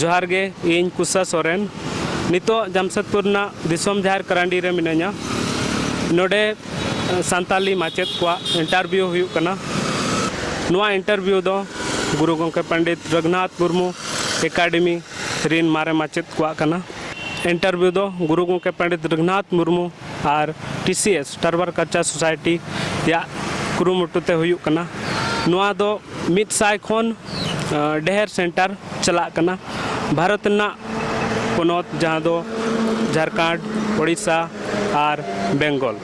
ᱡᱚᱦᱟᱨ ᱜᱮ ᱤᱧ ᱠᱩᱥᱟ ᱥᱚᱨᱮᱱ ᱱᱤᱛᱚᱜ ᱡᱟᱢᱥᱮᱫᱽᱯᱩᱨ ᱨᱮᱱᱟᱜ ᱫᱤᱥᱚᱢ ᱡᱟᱦᱮᱨ ᱠᱟᱨᱟᱱᱰᱤ ᱨᱮ ᱢᱤᱱᱟᱹᱧᱟ ᱱᱚᱰᱮ ᱥᱟᱱᱛᱟᱞᱤ ᱢᱟᱪᱮᱫ ᱠᱚᱣᱟᱜ ᱤᱱᱴᱟᱨᱵᱷᱤᱭᱩ ᱦᱩᱭᱩᱜ ᱠᱟᱱᱟ ᱱᱚᱣᱟ ᱤᱱᱴᱟᱨᱵᱷᱤᱭᱩ ᱫᱚ ᱜᱩᱨᱩ ᱜᱚᱢᱠᱮ ᱯᱚᱱᱰᱤᱛ ᱨᱚᱜᱷᱩᱱᱟᱛᱷ ᱢᱩᱨᱢᱩ ᱮᱠᱟᱰᱮᱢᱤ ᱨᱤᱱ ᱢᱟᱨᱮ ᱢᱟᱪᱮᱛ ᱠᱚᱣᱟᱜ ᱠᱟᱱᱟ᱾ ᱤᱱᱴᱟᱨᱵᱷᱤᱭᱩ ᱫᱚ ᱜᱩᱨᱩ ᱜᱚᱢᱠᱮ ᱯᱚᱸᱰᱤᱛ ᱨᱚᱜᱷᱩᱱᱟᱛᱷ ᱢᱩᱨᱢᱩ ᱟᱨ ᱴᱤᱥᱤᱮᱥ, ᱴᱟᱨᱵᱟᱨ ᱠᱟᱞᱪᱟᱨ ᱥᱳᱥᱟᱭᱴᱤ, ᱭᱟᱜ ᱠᱩᱨᱩᱢᱩᱴᱩ ᱛᱮ ᱦᱩᱭᱩᱜ ᱠᱟᱱᱟ᱾ ᱱᱚᱣᱟ ᱫᱚ ᱢᱤᱫ ᱥᱟᱭ ᱠᱷᱚᱱ ᱰᱮᱦᱮᱨ ᱥᱮᱱᱴᱟᱨ ᱪᱟᱞᱟᱜ ᱠᱟᱱᱟ᱾ ᱵᱷᱟᱨᱚᱛ ᱨᱮᱱᱟᱜ ᱯᱚᱱᱚᱛ ᱡᱟᱦᱟᱸ ᱫᱚ ᱡᱷᱟᱨᱠᱷᱚᱸᱰ, ᱳᱰᱤᱥᱟ ᱟᱨ ᱵᱮᱝᱜᱚᱞ᱾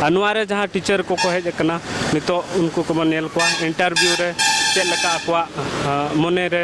ᱟᱨ ᱱᱚᱣᱟ ᱨᱮ ᱡᱟᱦᱟᱸ ᱴᱤᱪᱟᱨ ᱠᱚ ᱠᱚ ᱦᱮᱡ ᱟᱠᱟᱱᱟ ᱱᱤᱛᱚᱜ ᱩᱱᱠᱩ ᱠᱚᱵᱚᱱ ᱧᱮᱞ ᱠᱚᱣᱟ ᱤᱱᱴᱟᱨᱵᱷᱤᱭᱩ ᱨᱮ ᱪᱮᱫ ᱞᱮᱠᱟ ᱟᱠᱚᱣᱟᱜ ᱢᱚᱱᱮ ᱨᱮ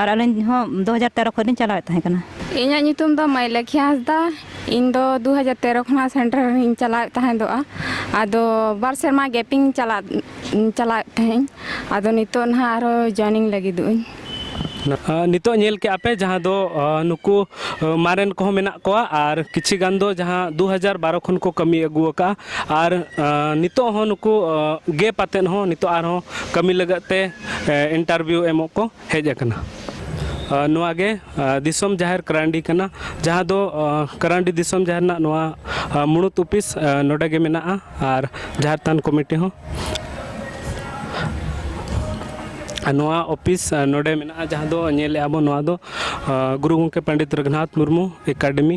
ᱟᱨ ᱟᱹᱞᱤᱧ ᱦᱚᱸ ᱫᱩ ᱦᱟᱡᱟᱨ ᱛᱮᱨᱚ ᱠᱷᱚᱱ ᱞᱤᱧ ᱪᱟᱞᱟᱣᱮᱫ ᱛᱟᱦᱮᱸ ᱠᱟᱱᱟ ᱤᱧᱟᱹᱜ ᱧᱩᱛᱩᱢ ᱫᱚ ᱢᱟᱹᱭᱞᱟᱹᱠᱷᱤ ᱦᱟᱸᱥᱫᱟ ᱤᱧ ᱫᱚ ᱫᱩ ᱦᱟᱡᱟᱨ ᱛᱮᱨᱚ ᱠᱷᱚᱱᱟᱜ ᱥᱮᱱᱴᱟᱨ ᱨᱮᱧ ᱪᱟᱞᱟᱣᱮᱫ ᱛᱟᱦᱮᱸᱫᱚᱜᱼᱟ ᱟᱫᱚ ᱵᱟᱨ ᱥᱮᱨᱢᱟ ᱜᱮᱯᱤᱝ ᱪᱟᱞᱟᱜ ᱪᱟᱞᱟᱣᱮᱫ ᱛᱟᱦᱮᱸᱫ ᱟᱫᱚ ᱱᱤᱛᱚᱜ ᱱᱟᱦᱟᱜ ᱟᱨᱚ ᱡᱚᱭᱮᱱᱤᱝ ᱞᱟᱹᱜᱤᱫᱚᱜ ᱟᱹᱧ ᱱᱤᱛᱚᱜ ᱧᱮᱞ ᱠᱮᱜᱼᱟ ᱯᱮ ᱡᱟᱦᱟᱸ ᱫᱚ ᱱᱩᱠᱩ ᱢᱟᱨᱮᱱ ᱠᱚᱦᱚᱸ ᱢᱮᱱᱟᱜ ᱠᱚᱣᱟ ᱟᱨ ᱠᱤᱪᱷᱤ ᱜᱟᱱ ᱫᱚ ᱡᱟᱦᱟᱸ ᱫᱩ ᱦᱟᱡᱟᱨ ᱵᱟᱨᱚ ᱠᱷᱚᱱ ᱠᱚ ᱠᱟᱹᱢᱤ ᱟᱹᱜᱩ ᱟᱠᱟᱫᱼᱟ ᱟᱨ ᱱᱤᱛᱚᱜ ᱦᱚᱸ ᱱᱩᱠᱩ ᱜᱮᱯ ᱟᱛᱮᱫ ᱦᱚᱸ ᱱᱤᱛᱚᱜ ᱟᱨᱦᱚᱸ ᱠᱟᱹᱢᱤ ᱞᱟᱹᱜᱤᱫ ᱛᱮ ᱤᱱᱴᱟᱨᱵᱷᱤᱭᱩ ᱮᱢᱚᱜ ᱠᱚ ᱦᱮᱡ ᱟᱠᱟᱱᱟ ᱱᱚᱣᱟ ᱜᱮ ᱫᱤᱥᱚᱢ ᱡᱟᱦᱮᱨ ᱠᱟᱨᱟᱱᱰᱤ ᱠᱟᱱᱟ ᱡᱟᱦᱟᱸ ᱫᱚ ᱠᱟᱨᱟᱱᱰᱤ ᱫᱤᱥᱚᱢ ᱡᱟᱦᱮᱨ ᱨᱮᱱᱟᱜ ᱱᱚᱣᱟ ᱢᱩᱬᱩᱛ ᱚᱯᱷᱤᱥ ᱱᱚᱰᱮ ᱜᱮ ᱢᱮᱱᱟᱜᱼᱟ ᱟᱨ ᱡᱟᱦᱮᱨ ᱛᱷᱟᱱ ᱠᱚᱢᱤᱴᱤ ᱦᱚᱸ ᱱᱚᱣᱟ ᱚᱯᱷᱤᱥ ᱱᱚᱰᱮ ᱢᱮᱱᱟᱜᱼᱟ ᱡᱟᱦᱟᱸ ᱫᱚ ᱧᱮᱞᱮᱫᱼᱟ ᱵᱚᱱ ᱱᱚᱣᱟ ᱫᱚ ᱜᱩᱨᱩ ᱜᱚᱢᱠᱮ ᱯᱚᱱᱰᱤᱛ ᱨᱚᱜᱷᱩᱱᱟᱛᱷ ᱢᱩᱨᱢᱩ ᱮᱠᱟᱰᱮᱢᱤ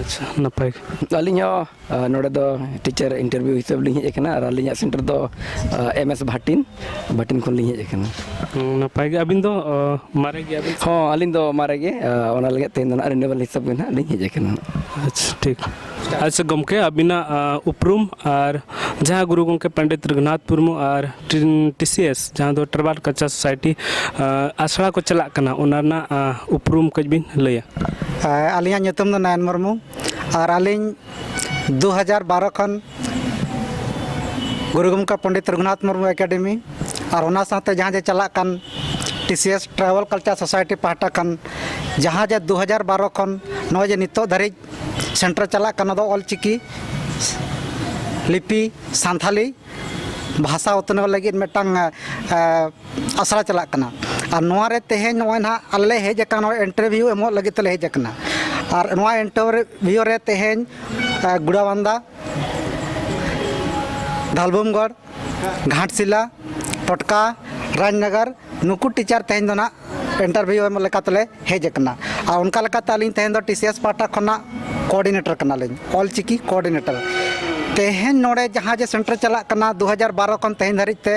ᱟᱪᱪᱷᱟ ᱱᱟᱯᱟᱭ ᱜᱮ ᱟᱹᱞᱤᱧ ᱦᱚᱸ ᱟᱨ ᱱᱚᱰᱮ ᱫᱚ ᱴᱤᱪᱟᱨ ᱤᱱᱴᱟᱨᱵᱷᱤᱭᱩ ᱦᱤᱥᱟᱹᱵᱽ ᱞᱤᱧ ᱦᱮᱡ ᱟᱠᱟᱱᱟ ᱟᱨ ᱟᱹᱞᱤᱧᱟᱜ ᱥᱮᱱᱴᱟᱨ ᱫᱚ ᱮᱢ ᱮᱥ ᱵᱷᱟᱴᱤᱱ ᱵᱷᱟᱴᱤᱱ ᱠᱷᱚᱱ ᱞᱤᱧ ᱦᱮᱡ ᱟᱠᱟᱱᱟ ᱦᱩᱸ, ᱱᱟᱯᱟᱭ ᱜᱮ ᱟᱹᱵᱤᱱ ᱫᱚ ᱚ, ᱢᱟᱨᱮ ᱜᱮᱭᱟᱵᱤᱱ ᱥᱮ? ᱦᱚᱸ ᱟᱹᱞᱤᱧ ᱫᱚ ᱢᱟᱨᱮ ᱜᱮ ᱟᱨ ᱚᱱᱟ ᱞᱟᱹᱜᱤᱫ ᱛᱮ ᱱᱟᱦᱟᱜ ᱨᱤᱱᱩᱣᱟᱞ ᱦᱤᱥᱟᱹᱵᱽ ᱜᱮ ᱱᱟᱦᱟᱜ ᱞᱤᱧ ᱦᱮᱡ ᱟᱠᱟᱱᱟ ᱟᱪᱪᱷᱟ ᱴᱷᱤᱠ ᱟᱪᱪᱷᱟ ᱜᱚᱢᱠᱮ ᱟᱹᱵᱤᱱᱟᱜ ᱟᱸ, ᱩᱯᱨᱩᱢ ᱟᱨ ᱡᱟᱦᱟᱸ ᱜᱩᱨᱩ ᱜᱚᱢᱠᱮ ᱯᱚᱱᱰᱤᱛ ᱨᱚᱜᱷᱩᱱᱟᱛᱷ ᱢᱩᱨᱢᱩ ᱟᱨ ᱴᱤ ᱥᱤ ᱮᱥ ᱡᱟᱦᱟᱸ ᱫᱚ ᱴᱨᱟᱵᱟᱞ ᱠᱟᱞᱪᱟᱨ ᱥᱳᱥᱟᱭᱴᱤ ᱟᱥᱲᱟ ᱠᱚ ᱪᱟᱞᱟᱜ ᱠᱟᱱᱟ ᱚᱱᱟ ᱨᱮᱱᱟᱜ ᱩᱯᱨᱩᱢ ᱠᱟᱹᱡ ᱵᱤᱱ ᱞᱟᱹᱭᱟ ᱟᱹᱞᱤᱧᱟᱜ ᱧᱩᱛᱩᱢ ᱫᱚ ᱱᱚᱭᱚᱱ ᱢᱩᱨᱢᱩ ᱟᱨ ᱟᱹᱞᱤᱧ ᱫᱩ ᱦᱟᱡᱟᱨ ᱵᱟᱨᱚ ᱠᱷᱚᱱ ᱜᱩᱨᱩ ᱜᱚᱢᱠᱮ ᱯᱚᱱᱰᱤᱛ ᱨᱚᱜᱷᱩᱱᱟᱛᱷ ᱢᱩᱨᱢᱩ ᱮᱠᱟᱰᱮᱢᱤ ᱟᱨ ᱚᱱᱟ ᱥᱟᱶᱛᱮ ᱡᱟᱦᱟᱸ ᱡᱮ ᱪᱟᱞᱟᱜ ᱠᱟᱱ T C S travel culture society ᱯᱟᱦᱴᱟ ᱠᱷᱚᱱ ᱡᱟᱦᱟᱸ ᱡᱮ ᱫᱩ ᱦᱟᱡᱟᱨ ᱵᱟᱨᱚ ᱠᱷᱚᱱ ᱱᱚᱜᱼᱚᱭ ᱡᱮ ᱱᱤᱛᱚᱜ ᱫᱷᱟᱹᱨᱤᱡ ᱥᱮᱱᱴᱟᱨ ᱪᱟᱞᱟᱜ ᱠᱟᱱᱟ ᱚᱱᱟ ᱫᱚ ᱚᱞ ᱪᱤᱠᱤ ᱞᱤᱯᱤ ᱥᱟᱱᱛᱷᱟᱞᱤ ᱵᱷᱟᱥᱟ ᱩᱛᱱᱟᱹᱣ ᱞᱟᱹᱜᱤᱫ ᱢᱤᱫᱴᱟᱝ ᱟᱥᱲᱟ ᱪᱟᱞᱟᱜ ᱠᱟᱱᱟ ᱟᱨ ᱱᱚᱣᱟ ᱨᱮ ᱛᱮᱦᱮᱧ ᱱᱚᱜᱼᱚᱭ ᱱᱟᱦᱟᱜ ᱟᱞᱮ ᱞᱮ ᱦᱮᱡ ᱟᱠᱟᱱᱟ ᱱᱚᱣᱟ ᱤᱱᱴᱟᱨᱵᱷᱤᱭᱩ ᱮᱢᱚᱜ ᱞᱟᱹᱜᱤᱫ ᱛᱮᱞᱮ ᱦᱮᱡ ᱟᱠᱟᱱᱟ ᱟᱨ ᱱᱚᱣᱟ ᱤᱱᱴᱟᱨᱵᱷᱤᱭᱩ ᱨᱮ ᱛᱮᱦᱮᱧ ᱜᱩᱲᱟ ᱵᱟᱱᱫᱟ ᱫᱷᱟᱞᱵᱷᱩᱢᱜᱚᱲ ᱜᱷᱟᱴᱥᱤᱞᱟ ᱴᱚᱴᱠᱟ ᱨᱟᱡᱽᱱᱚᱜᱚᱨ ᱱᱩᱠᱩ ᱴᱤᱪᱟᱨ ᱛᱮᱦᱮᱧ ᱫᱚ ᱱᱟᱦᱟᱜ ᱤᱱᱴᱟᱨᱵᱷᱤᱭᱩ ᱮᱢ ᱞᱮᱠᱟᱛᱮᱞᱮ ᱦᱮᱡ ᱟᱠᱟᱱᱟ ᱟᱨ ᱚᱱᱠᱟ ᱞᱮᱠᱟᱛᱮ ᱟᱹᱞᱤᱧ ᱛᱮᱦᱮᱧ ᱫᱚ ᱴᱤ ᱥᱤ ᱮᱥ ᱯᱟᱦᱴᱟ ᱠᱷᱚᱱᱟᱜ ᱠᱳᱨᱰᱤᱱᱮᱴᱚᱨ ᱠᱟᱱᱟᱞᱤᱧ ᱚᱞ ᱪᱤᱠᱤ ᱠᱳᱨᱰᱤᱱᱮᱴᱚᱨ ᱛᱮᱦᱮᱧ ᱱᱚᱰᱮ ᱡᱟᱦᱟᱸ ᱡᱮ ᱥᱮᱱᱴᱟᱨ ᱪᱟᱞᱟᱜ ᱠᱟᱱᱟ ᱫᱩ ᱦᱟᱡᱟᱨ ᱵᱟᱨᱚ ᱠᱷᱚᱱ ᱛᱮᱦᱮᱧ ᱫᱷᱟᱹᱨᱤᱡ ᱛᱮ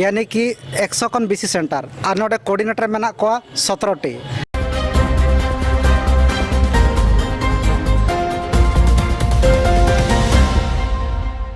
ᱭᱟᱱᱤ ᱠᱤ ᱮᱠᱥᱚ ᱠᱷᱚᱱ ᱵᱮᱥᱤ ᱥᱮᱱᱴᱟᱨ ᱟᱨ ᱱᱚᱰᱮ ᱠᱳᱨᱰᱤᱱᱮᱴᱚᱨ ᱢᱮᱱᱟᱜ ᱠᱚᱣᱟ ᱥᱚᱛᱨᱚ ᱴᱤ